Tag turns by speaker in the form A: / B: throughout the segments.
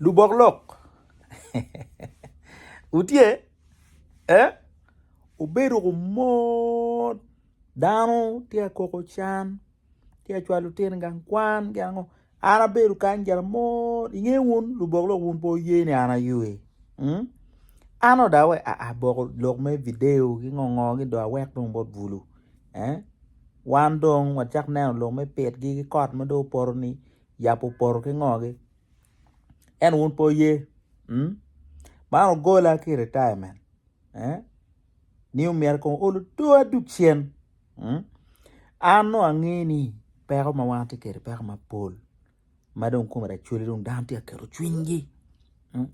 A: Lubok lok wutye eh wubedo kumot dano tye ka koko can tye ka cwalo lutino i gang kwan ki ango an abedo kany gin amot inge wun lubok lok wun pe wuye ni an aywe mm an dong awe aa boko lok me video ki ngo ngo ni dong awek dong bot bulu eh wan dong wacak neno lok me pit gi ki kot ma dong opoto ni. yabo opoto ki ngogi ento wun pe wuye man ogola ki retirement ni omyero kong ool odowa duk cen an nongo ange ni peko ma wan watye kwede peko mapol ma dong kome lacwale dong dano tye ka keto cwinygi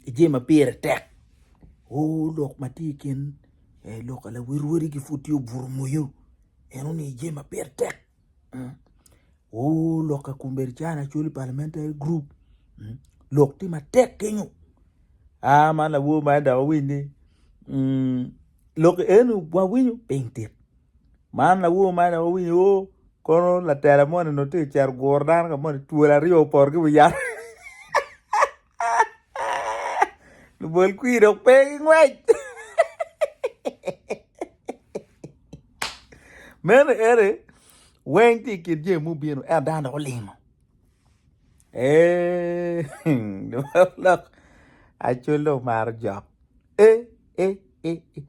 A: ki jami ma pire tek o lok ma tye i kin lok ma lawotwotgi pud tye obuto moyo enoni jami ma pire tek. Oh lok ka kun bedo calo lacol parliamentary group mm. lok tye matek kenyo a man lawo ma enda wawiny ni mm. lok enu wawinyo piny tit man lawo ma enda wawinyo o oh, kono latela moni no tye cero guro dano ka moni twol aryo opor ki wiyat Lubol kwir dok pe gingwec. Meno ere weng tye i kin jami mubino ento dano dok olingo. Ee, lok acol dong maro jok. E, e, e, e.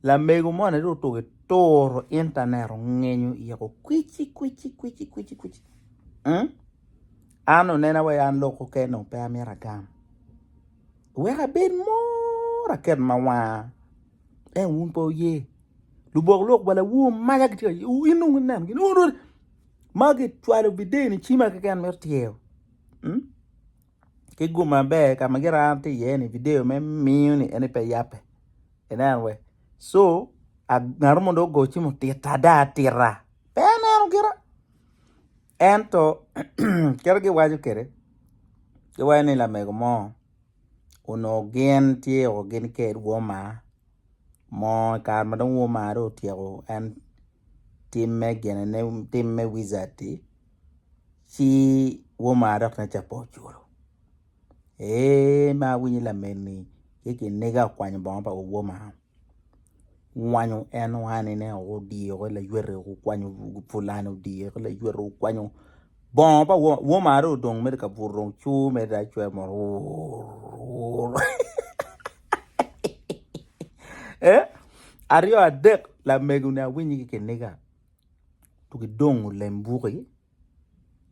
A: Lamego moni dong otuko i turu intanet ongenyo iye ko kwici kwici kwici kwici kwici mm an onena wai an lok keken dong pe amito agam wek abed mor aket ma wanga ento wun pe wuye lubok lok wa lawu omaca gitye ka yweyo in dong ineno gin magi cwalo video ni ci ma keken mito tyeyo mm. ki gum maber ka ma gin aye tye iye ni video me miyo ni en pe yape inen wek so ngat mo dong ogo cimo tita ada tita pe aneno gira ento kit ma giwaco kwede giwaco ni lamego mo onongo gin tye o gin ked woma mo kare ma dong woma dong otyeko en timme gine ne timme wica-ti ci woma dok nen calo pe oculo. Ee ma awinyo lameni ci kiniga okwanyo bongo pa woma, owwanyo en wanine woko odiyo ki layweto woko okwanyo pulani odiyo ki layweto woko okwanyo bongo pa woma, woma dong odong mere ka buto dong cur mere dong cwer mere wurr wurr ee aryo adek lamego ni awinyo ki kiniga gidongo lem buki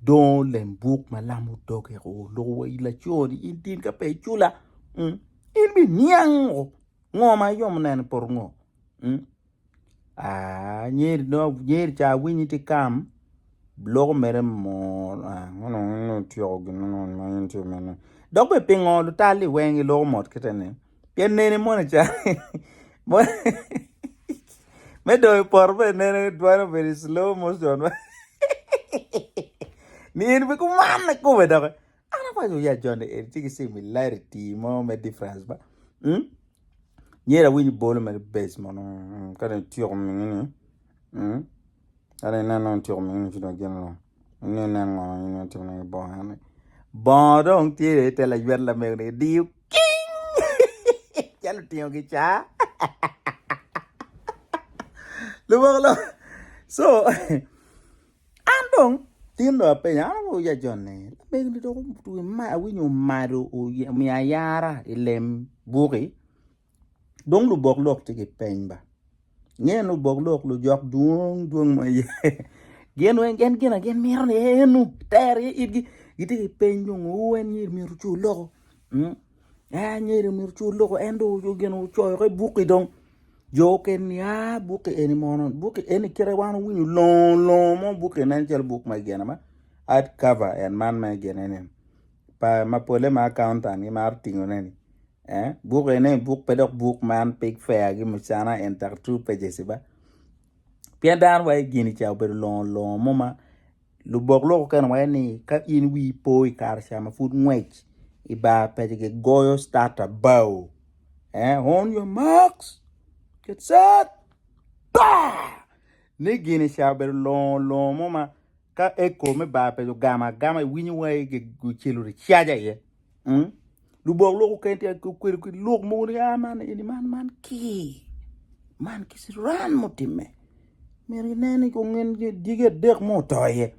A: dongo lem buk ma lam odoge o loko wa i laconi in tin ka pe icula in bi niang o ngo ma iyomo neno poto ngo aa nyeri dong nyeri ca awinyi ti kam loko mere mot ngo dong nongo ityeko gin ma in itimo mene dok bene pingo lutal-li weng giloko mot kite ni Pien nene mono can me dongo i poto bene nene twero bedo i slow motion ma ni en pe kumane kome doki an awaco ya joni en ci ki cimo ilari ti mo me difference ba mm? nyer awiny bolo mere base mono mm, ka dong ityeko mini ni mm? Ento inen nongo ityeko mini ni ci dong gin lung in dong inen ngo ma in dong itimo nongo bongo eni bongo dong tye i te laywet lamego ni kidiyo king calo otingo kicaa lubongo lok so an dong tin dong apenyo an awobo ya jon ni lamego ni dong otwe ma awinyo omado omiyo ayara i lem buki. Dong lubok lok tye ki peny ba. Nge lubok lok lujok dwong dwong ma ye. Gin weng gen gina gin miro ni enu ter ye itgi. Giti ki peny dong o en nyeri miro cu loko. En nyeri miro cu loko en do gino coyo ke buki dong. Jo oken ni a buki eni mono buki eni kite wan winyo longo longo mo buki nen calo buk ma gina ma ad cover en man me gine ni. Pa ma pole ma accountant gimaro tingo ne ni. eh book ene book pe dok book man pe fair gi mucana and tak two pages ba pien dano wa gini cha obedo longo longo mo ma lubok lok okene waye ni ka in wi po i kare ca ma pud ngwec i bar paco gi goyo start abao eh on your marks get set ba ni gini ca obedo longo longo mo ma ka eko me bar paco ogamo agama iwinyo wai gicelo ricaja iye Mm. Lubok lwok oken tye kwedo ki lwok mogo ni ah man eni man man ki. Man ki siran mutimme. Myero inen ni kongen digi adek mo oto iye.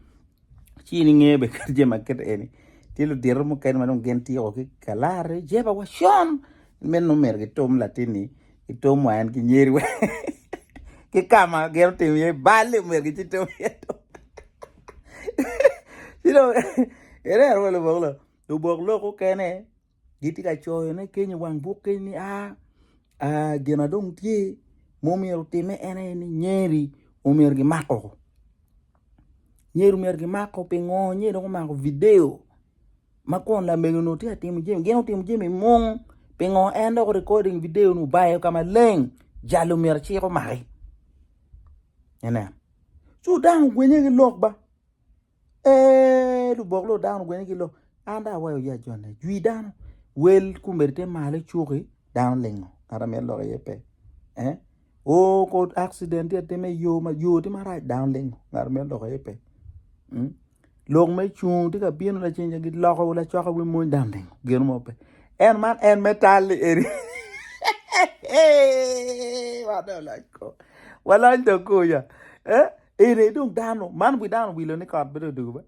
A: Ci ni nge be kat jema ket eni. Tye ludiro mukene ma dong gin tiko ki kalare jeba wa shon. Men no myero gitom latin ni gitom wa en ki nyeri wa. Ki kama gero tim ye bali myero gichitom ye. Ci dong erero wa lubok lwok. Lubok lok okene gitye ka coyo ne keny i wang buk keny ni aa aa gin adong tye ma omyero otime en aye ni nyeri omyero gimako oo nyeri omyero gimak oo pingo nyeri dong omako video ma kun lamego ni tye ka timo jami gin otimo jami mung pingo en dok recording video ni obayo ka maleng jalo myero cik omaki inen ci dano ogwinye ki lok ba. Ee, lubok lok dano ogwene ki lok. An dong awayo ya jone. Jwi dano. Wel kumeri te malo cuki dano lingo. Ngata mito lok iye pe. Eh? O ko accident tye atime yo ma yo tye marac dano lingo. Ngata mito lok iye pe. Mm? Lok me cung tye ka bino lacen gi loko lacoka wi mony dano lingo. Geno mo pe. En man en me tal li eri. Wadon lac ko. Walony to kuya. Eh? Eni dong dano man wi dano wilo ni kot bedo dugo be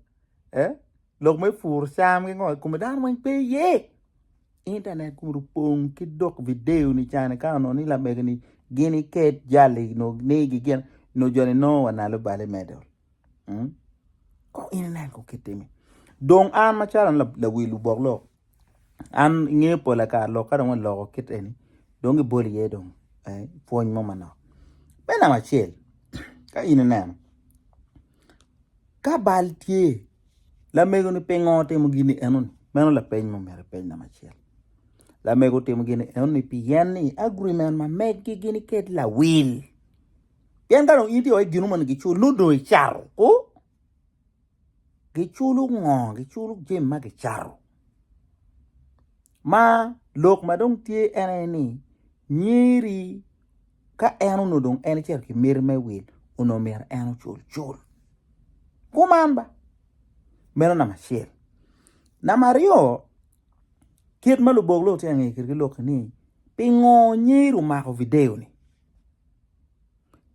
A: eh lok me pur cam ki ngo kome dano weng pe ye internet kun opong ki dok video ni cani ka ono ni lamege ni gini ket jali no ni gi gin no joni no wa nalo bale medol hmm? ko ini nen ko kitimi dong an macalo lawil lubok lok an nge pol ata lok ka dong waloko kit eni dong gi bol iye dong pwony mo manok me namba acel ka in ineno ka bal tye lamego ni pingo timo gini eno ni meno lapeny ma omyero ipeny namba acel lamego timo gini eno ni pi en ni agreement ma megi gini kit lawil pien ka dong in tye wai gino moni gi culu dong icato o giculo ngo giculo jami ma gicato ma lok ma dong tye en aye ni nyeri ka en onongo dong en ecito ki miti me wil onongo myero en ocul cul kuman ba meno namba acel namba aryo kit ma lubok lok tye ka ngeye kwedgi lok-ki ni pingo nyeri omako video-ni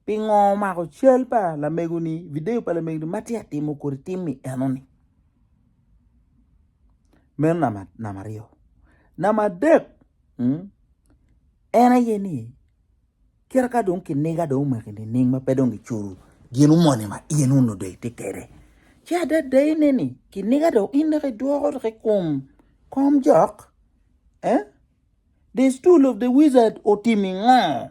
A: Pingo omako cal pa lamego-ni, video pa lamego-ni ma tye ka timo kodi timmi enoni? Meno namba aryo. Namba adek, en aye ni kit ka dong kiniga dong omaki nining ma pe dong giculo gino moni ma in onongo dong itye kwede? Ci adadeyine ni kiniga dong in dok idwoko dok i kom komjok? The stool of the wizard otimi ngo?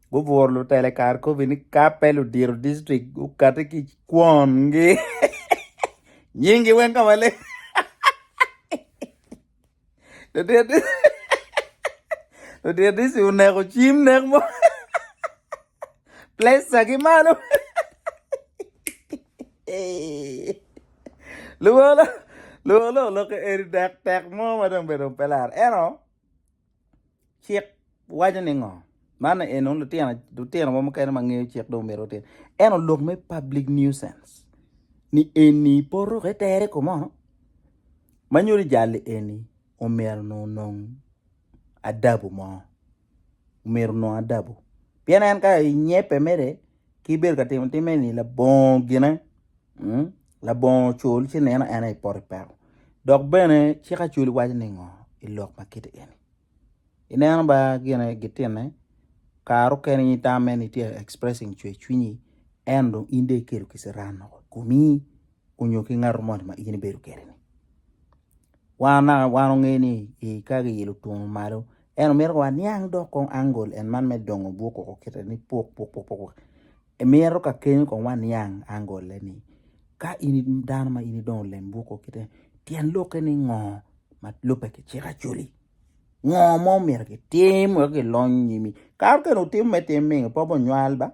A: Guburo lutele kar kobi ni kape ludiro district gukati ki kwon gi nying gi weng kama leng. Ludiro ludiro district oneko cim nek mo. Plesa ki malo. Luwolo luwolo oloko eri dek tek mo ma dong bedo pelar eno. Cik waco ni ngo? Man eni nongo lutino lutino mo mukene ma ngeyo cik dong myero otim eno lok me public nuisance ni eni i poto ka itere i kome ono ma nyuto jali eni omyero nongo onong adabu mo omyero onong adabu pien en ka inyebbe mere Ki ibedo ka timo timme ni labongo gine, mm, labongo cul ci neno en aye poto i peko. Dok bene cik acul waco ni ngo i lok ma kiti eni. Ineno ba gine gitine, kare okene in tamme ni tye expressing cwer cwinyi, en dong in dong ikelo kisirani woko i komi. onyo ki ngato moni ma in ibedo kwede ni. Wan naka wan onge ni ka giyilo twongo malo en omito wa niang dok kong angol en man me dongo buk oko kite ni puk puk puk puk emito ka keny kong wa niang angole ni ka in dano ma in idongo lem buk oko kite tyen lokke ni ngo ma lube ki cik acoli ngo ma omito ki tim wek ki lony nyimi kato kene otimo me tim mingo pe onywal ba.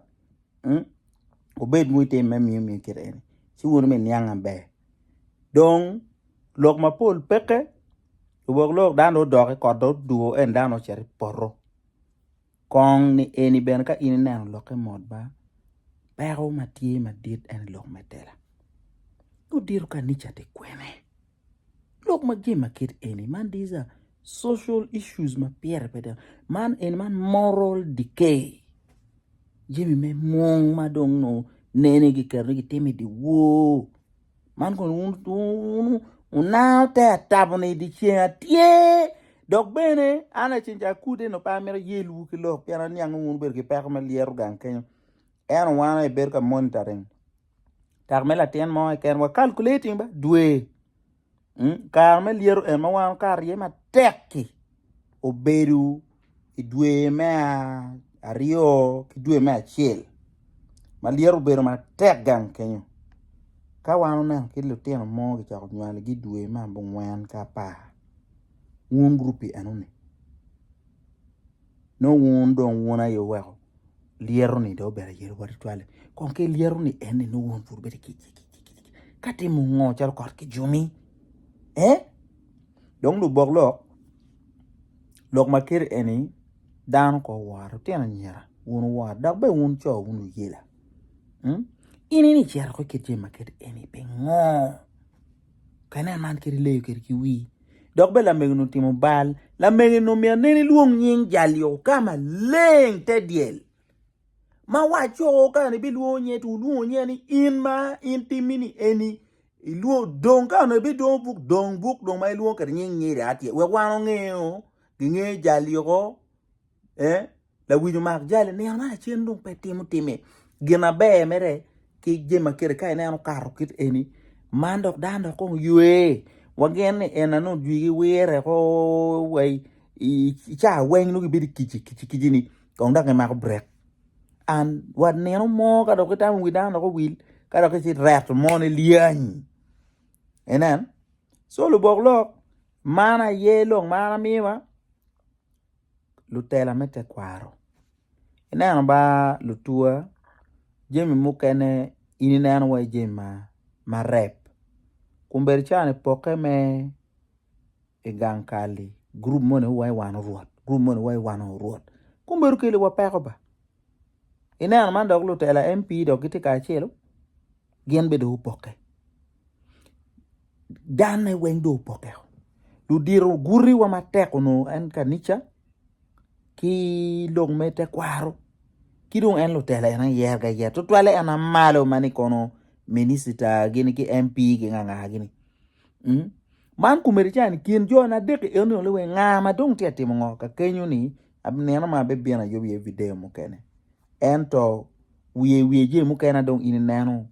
A: wubed ma wutime me miyo miu kite eni, ci wun wumi niang maber. Dong lok mapol peke, rwok lok dano dong odok i kot dong odwo en dano ocito i poto. Kong ni eni bene ka in ineno lokke mot ba, peko ma tye madit en lok me tela. Udito kanica ti kwene? Lok ma gin ma kit eni, man these are social issues ma pire pe dano. Man eni man moral decay. Jami me mung ma dong no nene giketo ni gitimo i dyewor. Man kono un un unango te atabo ni dyeceng atye dok bene an lacen ca akude no pe amito yelowu ki lok pien aniango wun wubedo ki peko me lyeto gang kenyo. Ento wan aye bedo ka monitoring. Dak me latin mo keken wa calculating ba dwe hmm? kare me lyeto en ma wan kare rye matek-ki obedo i dwe me aryo ki dwe me acel ma lyeto obedo matek gang kenyo ka wan oneno ki lutino mo kicoko nywalogi i dwe me abongwen ki apar wun gurup pi enoni Nongo wun dong wun aye wuweko lyero-ni dong obedo ayero bot tutwal-li. Kong ki lyero-ni enni nongo wun pud wubedi kicikicik ka timo ngo calo kot ki jumi? Eh? Dong lubok lok, lok ma keri enni dano ko oworo lutino anyira, wun wuwor dok bene wun co wun wuyela. Hmm? In ini cito ki kit jami ma kit enni pingo? Pe inen man kadi leyo kede ki wii. Dok be lamegeni otimo bal, lamegeni omiyo aneni lwong nying jal-liyo ka maleng te dyel. Ma wacco ka ni bilwongo nye, tu lwongo nye ni in ma in timmi ni eni, ilwongo dong ka ni bidwongo buk dong buk dong ma ilwongo kede nying nyiri atye. Wek wan ongeyo, gingeyo jal-liyo ko, eh? Lawiny omak jali nino ma lacen dong pe timo time gin aber mere ki jami ma kele ka ineno okato kit eni man dok dano dok kong ywe wagen ni en ano jwigi wire ko wa i ca weng nongo gibedo i kici kici kici ni kong dok gimako brek an wa nino mo ka dok itamo wi dano dok owil ka dok ici ireto mo ni lyeny inen so lubok lok man aye lok ma an amiwa. lutela me tekwaro ineno ba lutuwa jami mukene in ineno wai jami ma marep kun bedi cawa ni poke me i gang kal-li gurup moni wai wan orwot gurup moni wai wan aye orwot kumbe dong keliwa peko ba ineno man dok lutela MP dok gitye kacelu. gin bene dong opokke, danne weng dong opokke. Ludito gutiwa matek onongo en kanica ki lok me tekwaro ki dong en lutela en aye yero aye tutwalle en aye malo ma ni kono minicita gini ki MP gi nga nga gini man komiti ca ni kin jo na adek-ki eni dong weng nga ma dong tye ka timo ngo kakenyo-ni aneno ma abibino ayub iye video mukene. ento wiye wiye jami mukene na dong in ineno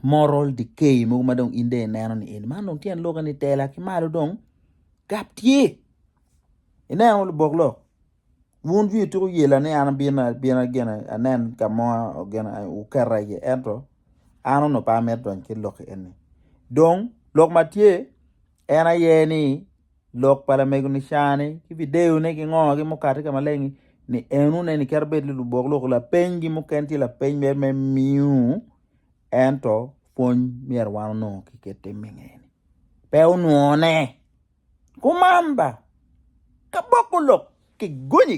A: moral decay mogo ma dong in dong ineno ni eni man dong tyen lok ni tela ki malo dong gap tye ineno lubok lok wun joni ituko yela ni an abino abina gin anen ka mo gin wuketa iye ento an onongo pe amito donyo ki lok eni dong lok ma tye en aye ni lok pa lamego-ni ca-ni ki video-ne ki ngo ki mukati ka maleng-ngi ni en wun eni kit bed ni lubok lok lapenygi muken tye lapeny mer me miu ento pwony myero wan onongo ki kit tim me ngene pe onwone kuman ba ka boko lok ki gonyi